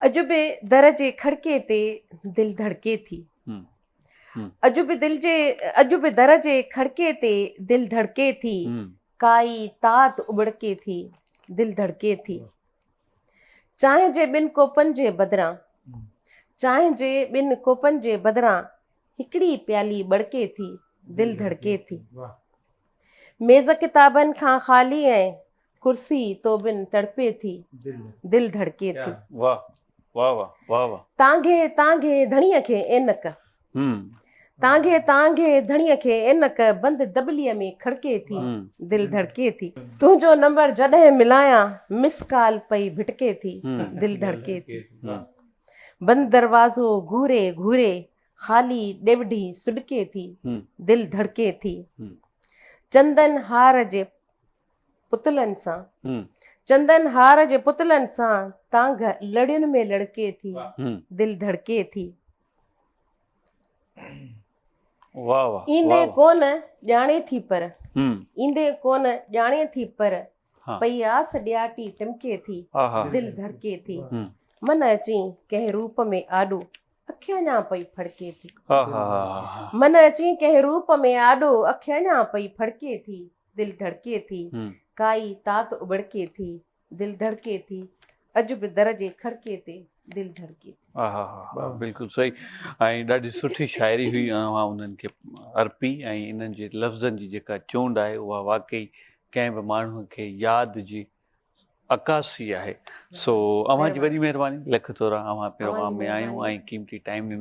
اڄ به در جي کڙڪي تي دل ڌڙڪي ٿي. اڄ به دل جي اڄ به در جي کڙڪي تي دل ڌڙڪي ٿي. ڪائي تات ابڙڪي ٿي دل ڌڙڪي ٿي. چانهه جي ٻن ڪوپن جي بدران چانهه جي ٻن ڪوپن جي بدران هڪڙي پيالي ٻڙڪي ٿي دل ڌڙڪي ٿي. ميز ڪتابن کان خالي ۽ ڪرسي تو بن تڙپي ٿي، دل ڌڙڪي ٿي. واھ واھ واھ واھ واھ. تان گهي تان گهي ڌڻيء کي عينڪ. تان گهي تان گهي ڌڻيء کي عينڪ بند دٻليء ۾ کڙڪي ٿي، دل ڌڙڪي ٿي. تنهنجو نمبر جڏهن ملايان مس ڪال پئي ڀٽڪي ٿي، دل ڌڙڪي ٿي. بند دروازو گهوري گهوري خالي ڏيوڍي سڏڪي ٿي، دل ڌڙڪي ٿي. چندن هار جي پتلن سان چندن هار جي پتلن سان تانگھ لڙين ۾ لڙڪي ٿي دل ڌڙڪي ٿي ايندي ڪون ڄاڻي ٿي پر ايندي ڪون ڄاڻي ٿي پر پئي آس ڏياٽي ٽمڪي ٿي دل ڌڙڪي ٿي من اچي ڪنهن روپ ۾ آڏو اک اڃا پئي ڦڙڪي ٿي من اچي ڪنهن روپ ۾ آڏو اک اڃا پئي ڦڙڪي ٿي دل ڌڙڪي ٿي، ڪائي تات اٻڙڪي ٿي، دل ڌڙڪي ٿي، اڄ به در جي کڙڪي تي دل ڌڙڪي ٿي. آها ها بلڪل صحيح ۽ ڏاڍي سٺي شاعري هئي اوهان انهن کي ارپي ۽ انهن جي لفظن جي جيڪا چونڊ آهي اها واقعي ڪنهن به ماڻهو کي ياد جي عڪاسي آهي سو اوهان جي وڏي مهرباني لک ٿورا اوهان پروگرام ۾ آيون ۽ قيمتي ٽائيم ڏنو.